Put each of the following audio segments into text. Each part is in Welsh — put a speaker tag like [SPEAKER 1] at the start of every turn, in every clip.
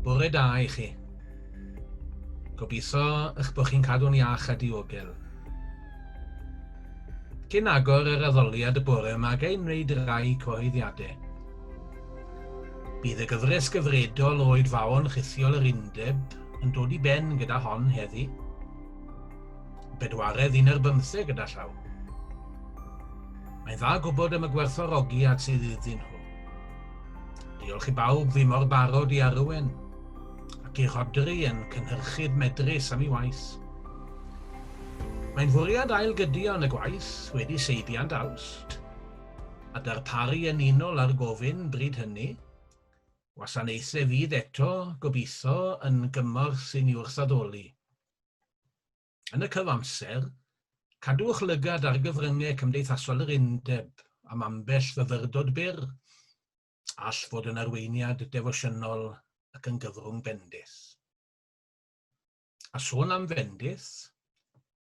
[SPEAKER 1] Bore da i chi. Gobeithio eich bod chi'n cadw'n iach a diogel. Cyn agor yr addoliad y bore yma, ga i wneud rai cyhoeddiadau. Bydd y gyfres gyfredol o oedfaon rhithiol yr undeb yn dod i ben gyda hon heddi. Bedwaredd un ar bymtheg gyda llaw. Mae'n dda gwybod am y gwerthorogiad sydd iddyn nhw. Diolch i bawb fi mor barod i arwen, ac i Rodri yn cynhyrchydd medrus am ei waith. Mae'n fwriad ail gydio yn y gwaith wedi seibiant Awst, a darparu yn unol â'r gofyn bryd hynny, gwasanaethau fydd eto, gobeithio, yn gymorth i ni wrthaddoli. Yn y cyfamser, cadwch lygad ar gyfryngau cymdeithasol yr Undeb am ambell fyfyrdod byr, all fod yn arweiniad defosiynol ac yn gyfrwng bendith. A sôn am fendith,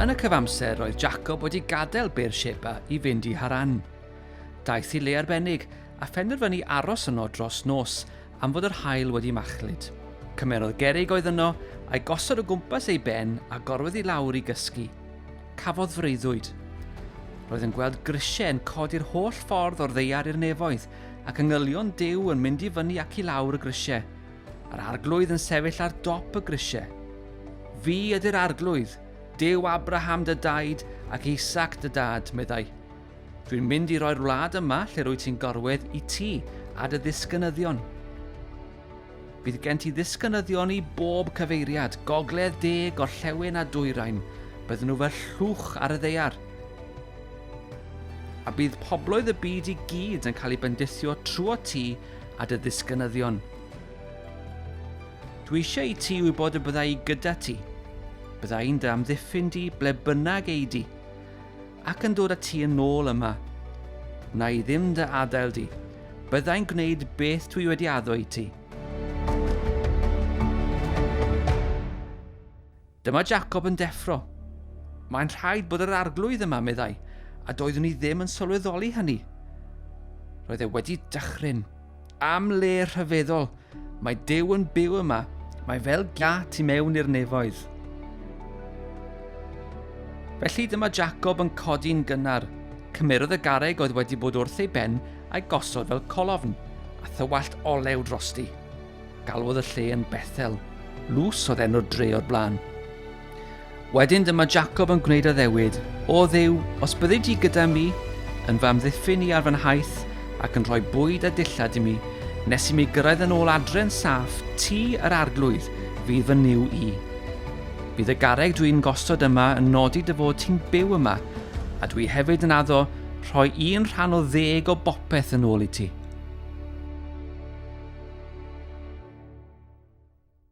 [SPEAKER 1] Yn y cyfamser, roedd Jacob wedi gadael Beer Sheba i fynd i Haran. Daeth i le arbennig a phenderfynu aros yno dros nos am fod yr haul wedi machlud. Cymerodd gerrig oedd yno, a'i gosod o gwmpas ei ben a gorwedd i lawr i gysgu. Cafodd freuddwyd. Roedd yn gweld grisiau yn codi'r holl ffordd o'r ddeiar i'r nefoedd, ac yngylion Duw yn mynd i fyny ac i lawr y grisiau. Yr arglwydd yn sefyll ar dop y grisiau. Fi ydy'r arglwydd, Duw Abraham dy daid ac Isaac dy dad, meddai. Dwi'n mynd i roi'r wlad yma lle rwyt ti'n gorwedd i ti a dy ddisgynyddion. Bydd gen ti ddisgynyddion i bob cyfeiriad, gogledd, de, gorllewin a dwyrain. Bydden nhw fel llwch ar y ddeiar. A bydd pobloedd y byd i gyd yn cael ei bendithio trwy ti a dy ddisgynyddion. Dwi eisiau i ti wybod y byddai gyda ti. Byddai'n dy amddiffyn di ble bynnag ei di. Ac yn dod â ti yn ôl yma. Wna i ddim dy adael di. Byddai'n gwneud beth dwi wedi addo i ti. Dyma Jacob yn deffro. Mae'n rhaid bod yr arglwydd yma, meddai, a doeddwn i ddim yn sylweddoli hynny. Roedd e wedi dychryn. Am le rhyfeddol, mae Duw yn byw yma, mae fel gia tu mewn i'r nefoedd. Felly dyma Jacob yn codi'n gynnar. Cymerodd y gareg oedd wedi bod wrth ei ben a'i gosod fel colofn, a thywallt olew drosti. Galwodd y lle yn Bethel. Lws oedd enw'r dre o'r blaen. Wedyn dyma Jacob yn gwneud addewid, O dduw, os byddi di gyda mi, yn fy amddiffyn i ar fy nhaith, ac yn rhoi bwyd a dillad i mi, nes i mi gyrraedd yn ôl adre'n saff, ti, yr arglwydd, fydd fy niw i. Bydd y garreg dwi'n gosod yma yn nodi dy fod ti'n byw yma, a dwi hefyd yn addo rhoi un rhan o ddeg o bopeth yn ôl i ti.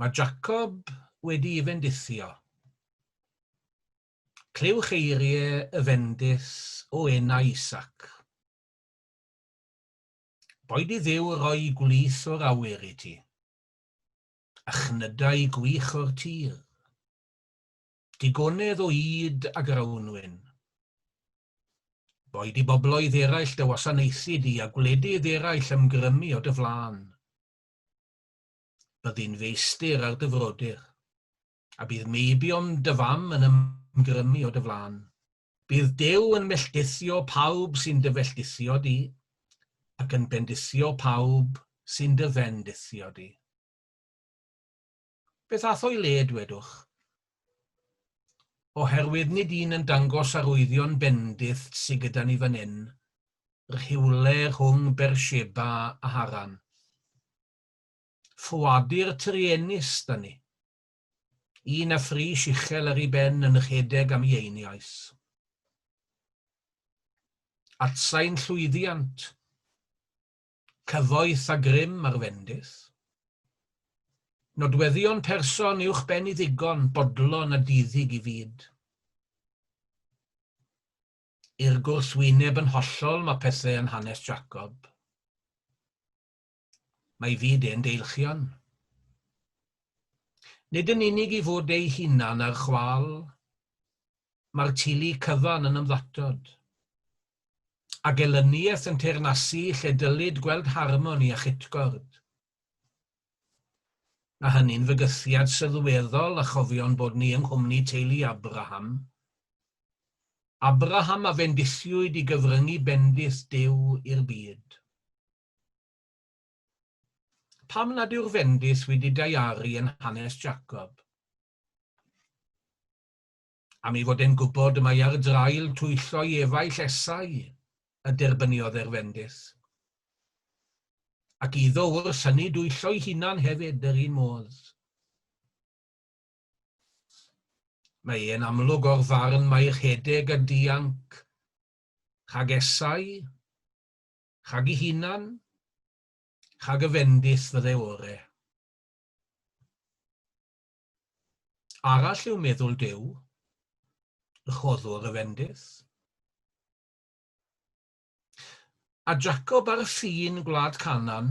[SPEAKER 1] Mae Jacob wedi'i fendithio. Clywch eiriau y fendith o enau Isaac. Boed i Dduw roi gwlith o'r awyr i ti, a chnydau gwych o'r tir, digonedd o ŷd a grawnwin. Boed i bobloedd eraill dy wasanaethu di a gwledydd eraill ymgrymu o dy flaen. Byddi'n feistr ar dy frodyr, a bydd meibion dy fam yn ymgrymu o dy flan. Bydd Duw yn melltithio pawb sy'n dy felltithio di, ac yn bendithio pawb sy'n dy fendithio di. Beth ath o'i le, dwedwch? Oherwydd nid un yn dangos arwyddion bendith sy gyda ni fan hyn, rhywle rhwng Bersheba a Haran. Ffoadur truenus 'da ni. Un a phris uchel ar ei ben yn rhedeg am ei einiaus. Atsain llwyddiant, cyfoeth a grym ar fendith. Nodweddion person uwchben i ddigon, bodlon a diddig i fyd. I'r gwrthwyneb yn hollol mae pethau yn hanes Jacob. Mae fyd ein deilchion. Nid yn unig i fod eu hunan ar chwâl, mae'r tulu cyfan yn ymddatod, a gelyniaeth yn teyrnasu lle dylid gweld harmoni a chytgord. Mae hynny'n fygythiad sylweddol a chofion bod ni yng nghwmni teulu Abraham. Abraham a fendithiwyd i gyfryngu bendith Duw i'r byd. Pam nad yw'r fendith wedi daiaru yn hanes Jacob? Am ei fod e'n gwybod y mae ar draul twyllo i efaill Esau y derbyniodd e'r fendith. Ac iddo wrs hynny dwyllo'i hunan hefyd yr un modd. Mae e'n amlwg o'r farn mae rhedeg a dianc rhag Esau Chag ei hunan, chag y fendith fydde ore. Arall yw meddwl Duw, y choddwr y fendith. A Jacob ar y ffin gwlad Canan,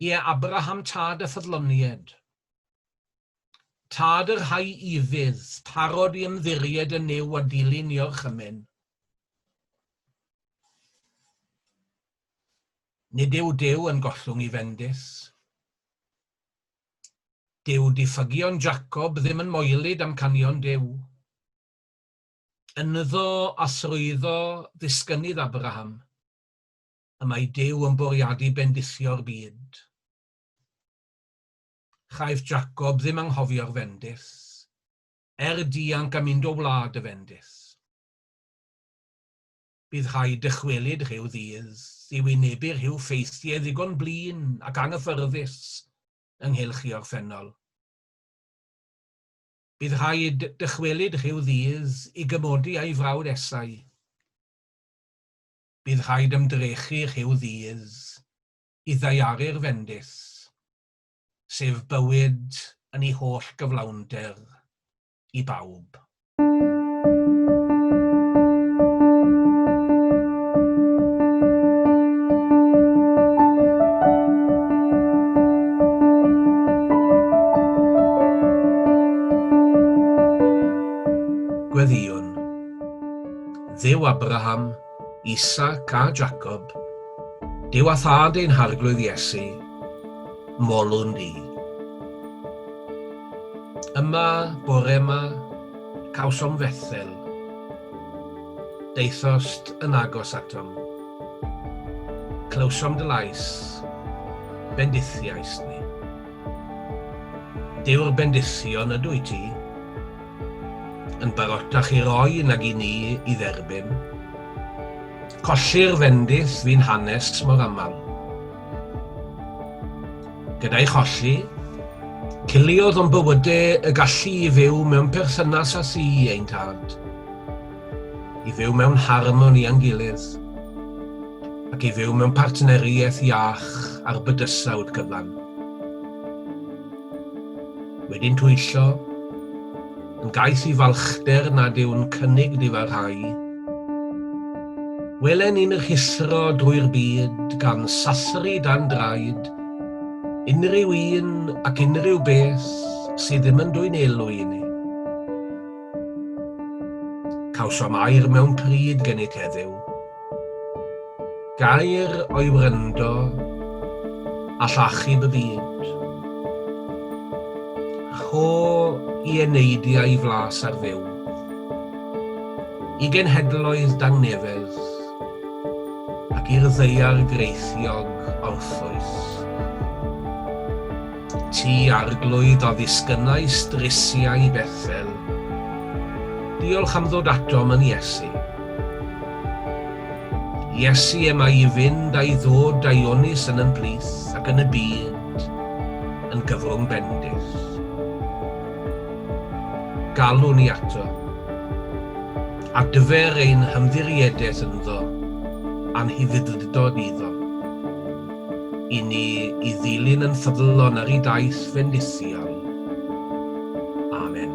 [SPEAKER 1] Ie, Abraham tad a ffyddlonied. Tad y rhai ufudd, parod i ymddiried yn Nuw a dilyn i orchymyn. Nid yw Duw yn gollwng i fendith. Dyw diffygion Jacob ddim yn moelyd amcanion Duw. Ynddo a thrwyddo ddisgynnydd Abraham, y mae Duw yn bwriadu bendithio'r byd. Chaiff Jacob ddim anghofio'r fendith, er dianc a mynd o wlad y fendith. Bydd rhaid dychwelyd rhyw ddydd i wynebu rhyw ffeithiau ddigon blin ac anghyffyrddus ynghylch ei orffennol. Bydd rhaid dychwelyd rhyw ddydd i gymodi a'i frawd Esau. Bydd rhaid ymdrechu rhyw ddydd i ddaearu'r fendith, sef bywyd yn ei holl gyflawnder, i bawb. Gweddïwn. Dduw Abraham, Isaac a Jacob, Duw a Thad ein Harglwydd Iesu, molwn ni. Yma, bore yma, cawsom fethel, deithost yn agos atom. Clywsom dy lais, bendithiais ni. Dyw'r bendithion ydw i ti, yn barotach i roi nag i ni i dderbyn. Colli'r fendith fu'n hanes mor aml. Gyda'i cholli, ciliodd o'n bywyde y gallu i fyw mewn perthynas â thi ein tad, i fyw mewn harmoni a'n gilydd, ac i fyw mewn partneriaeth iach ar bydysawd gyfan. Wedyn twyllo, yn gaeth i falchder nad yw'n cynnig difarhau. Welen ni'n rhuthro drwy'r byd gan sathru dan draed unrhyw un ac unrhyw beth sydd ddim yn dwyn elw i ni. Cawsom air mewn pryd gennyt heddiw. Gair o'i wrando, a llachub y byd. Rho i eneidiau flas ar fyw. I genhedloedd dangnefedd, ac i'r ddaear greithiog orffwys. Ti arglwydd a ddisgynnai strisiau Bethel. Diolch am ddod atom yn Iesu. Iesu em a i fynd a'i ddod a'i onys yn yn plith ac yn y byd yn gyflwng bendith. Galw ni ato. Adfer ein hymddiriedeth ynddo a'n hufuddlydod iddo. I ni i ddilyn yn ffyddlon ar i daith fendithiol. Amen.